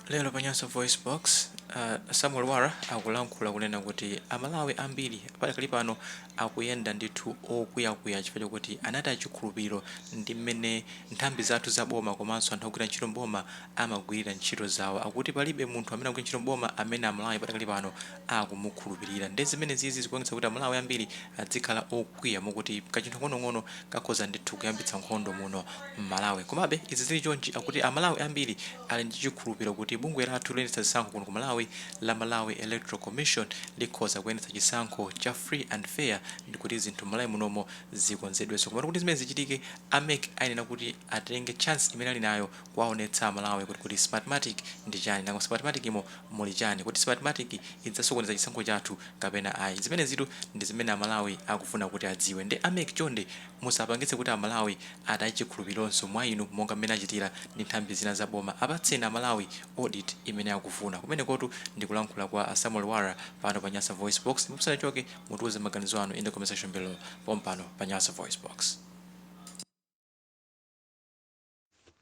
Lero pa Nyasa VoiceBox, a Samuel Lwara akulankhula kunena kuti a Malawi ambiri padakali pano akuyenda ndithu okwiya-kwiya chifukwa chokuti anataya chikhulupiriro ndi m'mene nthambi zathu za boma komanso anthu ogwira ntchito m'boma amagwirira ntchito zawo. Akuti palibe munthu amene akugwira ntchito m'boma amene a Malawi padakali pano akumukhulupirira nde zimenezizi zikuonetsa kuti amalawi ambiri adzikhala okwiya mokuti kachinthu kang'onong'ono kakhoza ndithu kuyambitsa nkhondo muno mmalawi komabe izi zili chonchi akuti amalawi ambiri ali ndi chikhulupiriro kuti bungwe lathu loyendetsa zisankho kuno ku malawi la malawi electoral commission likhoza kuyendetsa chisankho cha free and fair ndikuti zinthu mmalawi munomo zikonzedwenso komatu kuti zimenezi zichitike a mec ayenera kuti atenge chance imene ali nayo kuwaonetsa amalawi kuti kodi smartmatic ndi chani nanga mu smartmatic mo muli chani kodi smartmatic idzasokoneza chisankho chathu kapena ayi zimenezitu ndi zimene amalawi akufuna kuti adziwe nde a mec chonde musapangitse kuti amalawi ataye chikhulupirironso mwa inu monga mmene achitira ndi nthambi zina za boma apatseni amalawi audit imene akufuna kumenekotu ndi kulankhula kwa a samuel lwara pano pa nyasa voicebox ndipo musanachoke mutiuze maganizo anu in the comment section below pompano pa nyasa voicebox.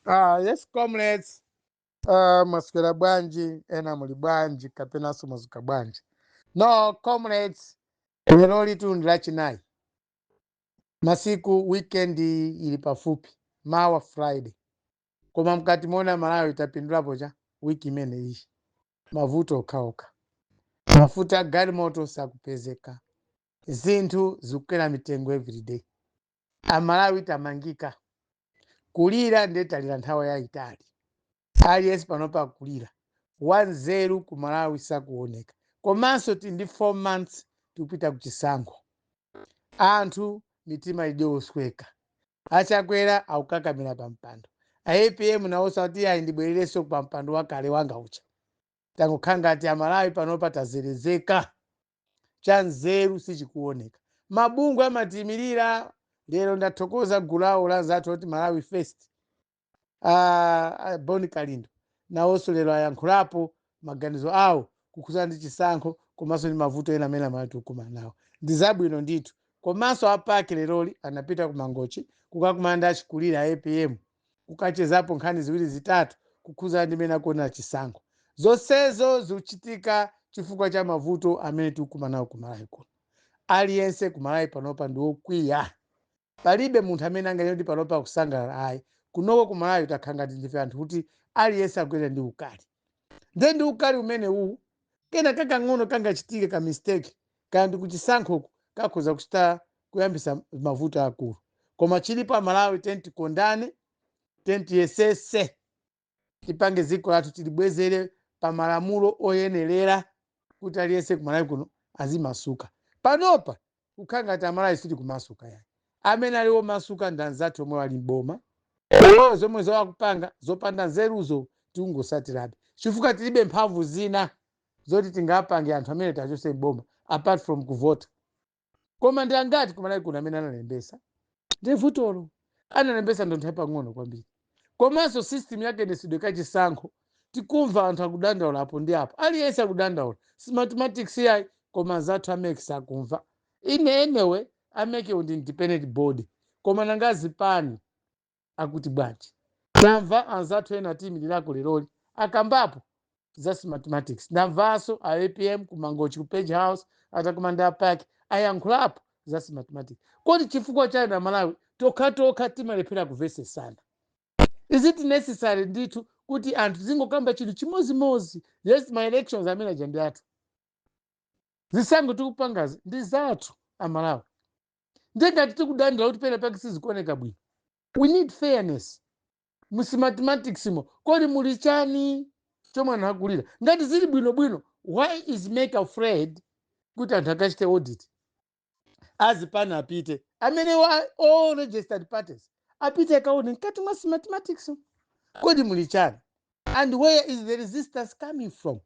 Ah, yes comrades. Uh, mwaswera bwanji ena muli bwanji kapenanso mwadzuka bwanji no comrades lerolitu ndi lachinayi masiku weekend ili pafupi mawa friday koma mkatimo chomwe amalawi tapindulapo cha wiki imene iyi mavuto okhaokha mafuta a galimoto sakupezeka zinthu zikukwera mitengo everyday amalawi tamangika kulira ndiye talira nthawi yayitali aliyense panopa akulira wanzeru ku malawi sakuoneka komanso tili ndi 4 months tikupita kuchisankho anthu mitima ili yosweka achakwera akukakamira pa mpando a apm nawonso akuti ayi ndibwererenso pa mpando wakale wanga uja tangokhala ngati amalawi panopa tazerezeka cha nzeru sichikuoneka mabungwe amatiyimirira lero ndathokoza gulu lawo la anzathu oti malawi first ah, ah, bon kalindo nawonso lero ayankhulapo maganizo awo kukhudzana ndi chisankho komanso ndi mavuto ena amene amalawi tikukumana nawo ndi zabwino ndithu komanso a PAC leroli anapita ku mangochi kukakumana ndi achikulira a apm kukachezapo nkhani ziwiri zitatu kukhudzana ndi mmene akuonera chisankho. Zonsezo zikuchitika chifukwa cha mavuto amene tikukumana nawo ku Malawi kuno. Aliyense ku Malawi panopa ndi wokwiya. Palibe munthu amene anganene kuti panopa akusangalala ayi. Kunoko ku Malawi takhala ngati ndife anthu oti aliyense akuyenda ndi ukali. nde ndi ukali umene uwu kena kakang'ono kangachitike ka mistake kaya ndi kuchisankhoku kakhoza kuchita kuyambisa mavuto aakulu koma chilipo amalawi tiyeni tikondane tiyeni tiyesetse tipange dziko lathu tilibwezere pa malamulo oyenerera kuti aliyense kumalawi kuno azimasuka panopa kukhala ngati amalawi sitikumasuka yayi amene ali omasuka ndi anzathu omwe ali m'boma omwewo zomwe akupanga zopanda nzeruzo tikungotsatirabe chifukwa tilibe mphamvu zina zoti tingapange anthu amenewa tiwachotse m'boma apart from kuvota koma ndi angati kumalawi kuno amene analembetsa ndiye vutolo analembetsa ndi anthu apang'ono kwambiri komanso system ya kayendetsedwe kachisankho tikumva anthu akudandaula apo ndi apo aliyense akudandaula Smartmatics yayi koma anzathu a MEC sakumva anyway a MEC wo ndi independent body koma nanga zipani akuti bwanji tamva anzathu ena Timothy Mtambo leroli akambapo za smartmatics ndamvaso a apm ku Mangochi ku Page House atakumana ndi a PAC ayankhulapo za smartmatics kodi chifukwa chani amalawi tokhatokha timalephera kumvetsetsana is it necessary ndithu kuti anthu azingokamba chinthu chimodzimodzi yes ma elections amene aja ndi athu zisankho tikupangazi ndi zathu amalawi nde ngati tikudandaula kuti pena pake sizikuoneka bwino we need fairness m'smartmatics mo kodi muli chani chomwe anthu akulira ngati zili bwinobwino why is MEC afraid kuti anthu akachite audit azipani apite amene wa all registered parties apite akaone mkati mwa smartmatics mo kodi muli chani and where is the resistance coming from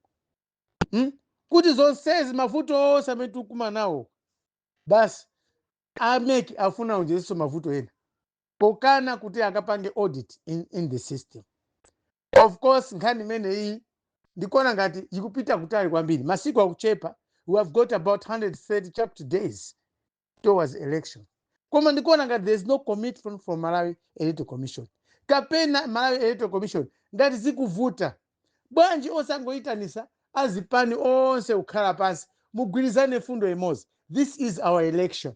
hmm? kuti zonsezi mavuto onse amene tikukumana nawo basi a MEC afuna aonjezerenso mavuto ena pokana kuti akapange audit in the system of course nkhani imeneyi ndikuona ngati ikupita kutali kwambiri masiku akuchepa we have got about 130 chakuti days towards election koma ndikuona ngati there is no commitment from malawi electoral commission kapena malawi electoral commission ngati zikuvuta bwanji osangoyitanitsa azipani onse kukhala pansi mugwirizane mfundo imodzi this is our election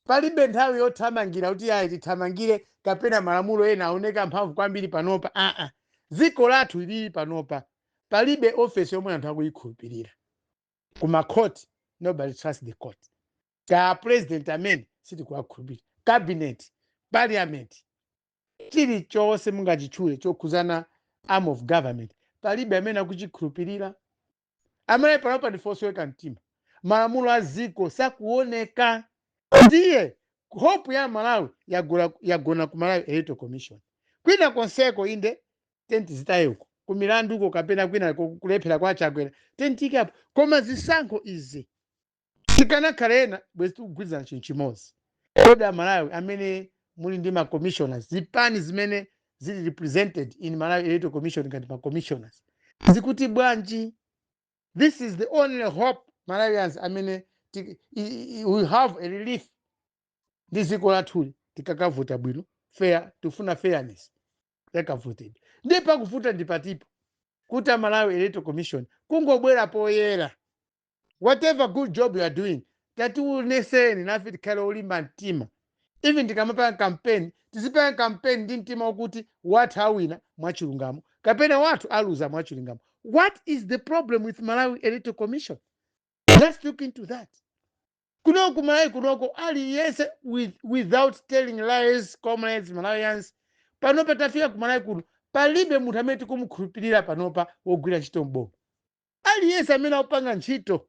Palibe nthawi yothamangira kuti ayi tithamangire kapena malamulo ena aoneke amphamvu kwambiri panopa aa. Dziko lathu ilili panopa palibe office yomwe anthu akuyikhulupirira. Ku ma court nobody trust the court. Kaya a president amenewa sitikuwakhulupirira. Cabinet, parliament, chilichonse mungachitchule chokhudzana arm of government palibe amene akuchikhulupirira. amalawi panopa ndife osweka mtima malamulo a dziko sakuoneka ndiye hope ya malawi yagona, yagona ku malawi electoral commission kwina konseko inde tenti zitayeko ku milanduko kapena kwina ku- kulephera kwa achakwera tenti ikapo koma zisankho izi tikanakhala ena bwezi tikugwirizana chinthu chimodzi kodi amalawi amene muli ndi macommissioners zipani zimene zili represented in malawi electoral commission ngati macommissioners zikuti bwanji this is the only hope malawians amene ti- i- i- we have a relief ndi dziko lathuli tikakavota bwino fair tifuna fairness yakavotedwe ndiye povuta ndi patipo kuti amalawi electoral commission kungobwera poyera whatever good job you are doing tationeseni nafe tikhale olimba mtima even tikamapanga kampeni tizipanga kampeni ndi mtima wakuti wathu awina mwachilungamo kapena wathu aluza mwachilungamo what is the problem with malawi electoral commission let's look into that kunoku malawi kunoko aliyense with, without telling lies comrades malawians panopa tafika ku malawi kuno palibe munthu amene tikumukhulupirira panopa wogwira ntchito mboma Aliyense amene akupanga ntchito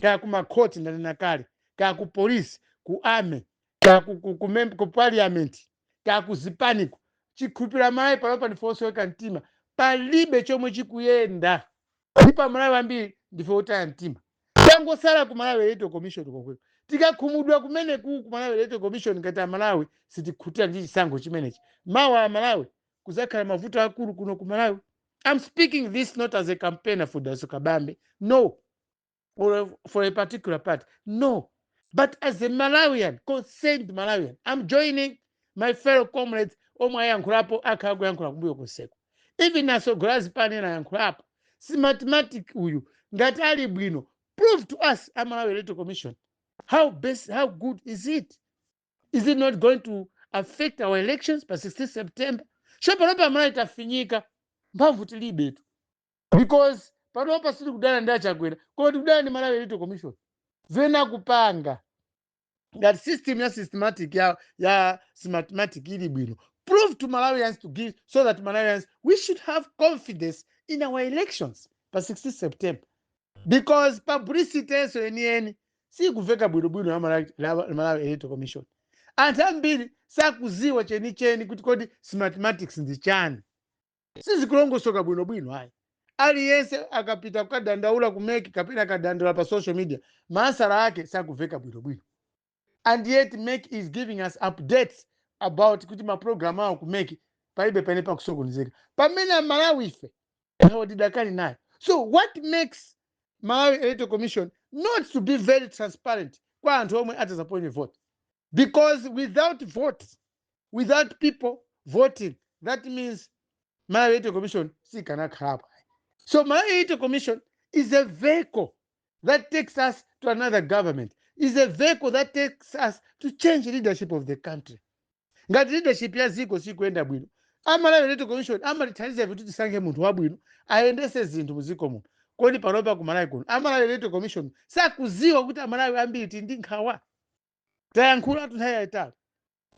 kaya ku makhoti ndanena kale, kaya ku police, ku army, kaya ku, ku, ku, mem- ku parliament, kaya ku zipaniko, chikhulupiriro Amalawi panopa ndife osweka mtima, palibe chomwe chikuyenda ndipo Amalawi ambiri ndife otaya mtima. Tangosala ku Malawi Electoral Commission komweko, tikakhumudwa kumeneko ku Malawi Electoral Commission ngati Amalawi sitikhutira ndi chisankho chimenechi, mawa Amalawi kuzakhala mavuto akulu kuno ku malawi i'm speaking this not as a campaigner for dalitso kabambe no or a- for a particular party no but as a malawian concerned malawian i'm joining my fellow comrades omwe ayankhulapo akhala kuyankhula kumbuyo konseko even asogoleri azipani ena ayankhulapo smartmatic uyu ngati ali bwino prove to us a malawi electoral commission how best how good is it is it not going to affect our elections pa 16 september so panopa amalawi tafinyika mphamvu tilibetu because panopa sitikudana ndi achakwera koma tikudana ndi malawi electoral commission zimene akupanga ngati system ya systematic ya, ya smartmatic ili bwino prove to malawians to give so that malawians we should have confidence in our elections pa 16 september because publicity yakenso yeniyeni sikuveka bwinobwino ya Malawi- la- la malawi electoral commission anthu ambiri sakuziwa chenicheni kuti kodi smartmatics ndi chani sizikulongosoka bwinobwino ayi aliyense akapita kukadandaula ku MEC kapena akadandaula pa social media maansala ake sakuveka bwinobwino and yet mec is giving us updates about kuti maprogram awo ku mec palibe pamene pakusokonezeka pamene amalawi ife nthawi tidakali nayo so what makes malawi electoral commission not to be very transparent kwa anthu omwe atazaponye vote because without vote without people voting that means malawi electoral commission sikanakhalapo so malawi electoral commission is a vehicle that takes us to another government is a vehicle that takes us to change leadership of the country ngati leadership ya dziko sikuyenda bwino amalawi electoral commission amatithandiza kuti tisankhe munthu wabwino ayendese zinthu mu dziko muno kodi panopa ku malawi kuno amalawi electoral commission sakuziwa kuti amalawi ambiri tili ndi nkhawa tayankhula nthawi yayitali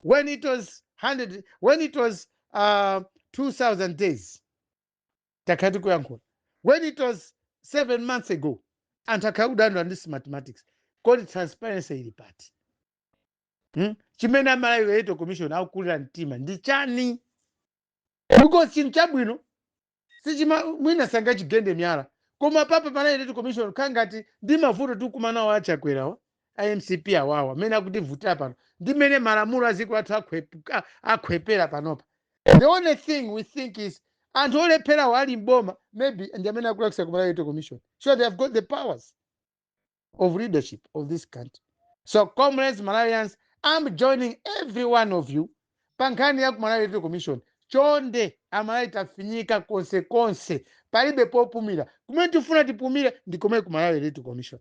when it was 2000 days takhala tikuyankhula when it was seven months ago anthu akhala kudandaula ndi smartmatic kodi transparency ili pati hmm? chimene amalawi electoral commission akukulira mtima ndi chani because chinthu chabwino sichima mwina sangachigende miyala koma papa malawi electoral commission khala ngati ndi mavuto tikumanawa achakwerawa a mcp awawa mmene akutivutira pano ndi mmene malamulo a dziko lathu akhwepera panopa the only thing we think is anthu olepherawo ali mboma maybe ndi amene akulakwitsa kumalawi electoral commission so they have got the powers of leadership of this country so comrades malawians i'm joining every one of you pa nkhani ya kumalawi electoral commission chonde amalawi tafinyika konsekonse palibe popumira kumene tifuna tipumire ndi komweko kumalawi electoral commission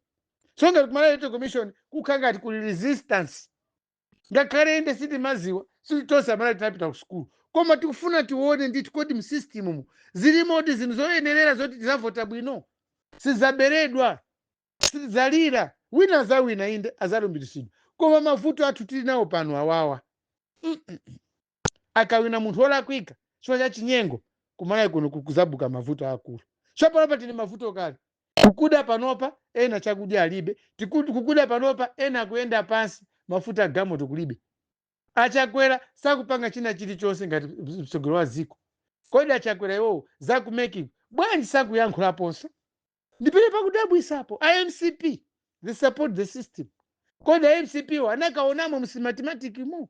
so ngati kumalawi electoral commission kukhala ngati kuli resistance ngakhale inde sitimaziwa si tonse amalawi tinapita ku sukulu koma tikufuna tione ndithu kodi msystemmu zilimo ndi zinthu zoyenerera zoti tizavota bwino sizaberedwa sitizalira wina azawina inde azalumbiritsidwa koma mavuto athu tili nawo pano awawa akawina munthu wolakwika chifukwa cha chinyengo kumalawi kuno kuzabuka mavuto akulu so panopa tili m'mavuto kale kukuda panopa ena chakudya alibe kukuda panopa ena akuyenda pansi mafuta agalimoto kulibe achakwera sakupanga china chilichonse ngati mtsogoleri wa dziko kodi achakwera iwowo zakumekiko bwanji sakuyankhulaponso ndi pamene pakudabwisapo a mcp they support the system kodi a mcp wo anakaonamo msmartmatic mu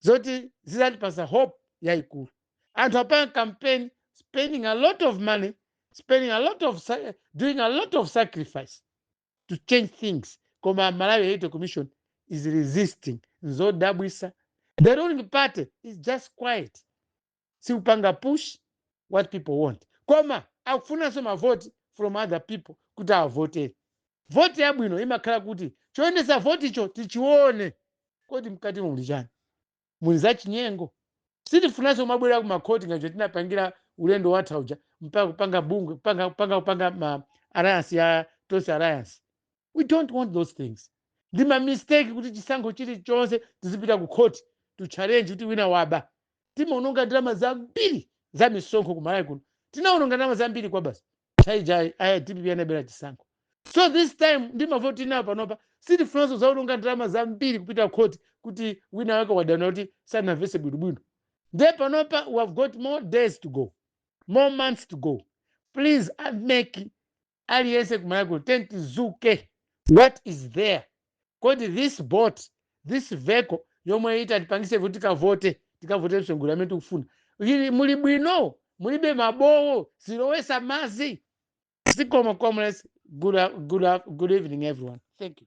zoti zizatipasa hope yaikulu anthu apanga campaign spending a lot of money spending a lot of sa- doing a lot of sacrifice to change things koma malawi electoral commission is resisting nzodabwisa the ruling party is just quiet sikupanga push what people want koma akufunanso mavoti from other people kuti avote voti yabwino imakhala kuti choyendesa voticho tichione kodi mkatimo muli chani muli zachinyengo sitifunanso kumabwera ku makhoti ngati mmene tinapangira ulendo watha uja mpaka kupanga bungwe kupanga kupanga kupanga ma alliance ya tonse alliance we don't want those things ndi ma mistake kuti chisankho chilichonse tizipita ku khoti to challenge kuti wina waba timaononga ndalama zambiri za misonkho ku malawi kuno tinaononga ndalama zambiri kwabasi chaka chija a dpp anabera chisankho so this time ndi mavoti inawa panopa sitifunanso kuzaononga ndalama zambiri kupita khoti kuti wina wake wadana kuti sanamvese bwinobwino nde panopa we have got more days to go more months to go please uh, make aliyense kumalawi kuno tiyeni tizuke what is there kodi this boat this vehicle yomwe itatipangise kuti tikavote tikavote msongolero amene tikufuna ili bwino mulibe mabowo olowesa mazi zikomo comrades good evening everyone thank you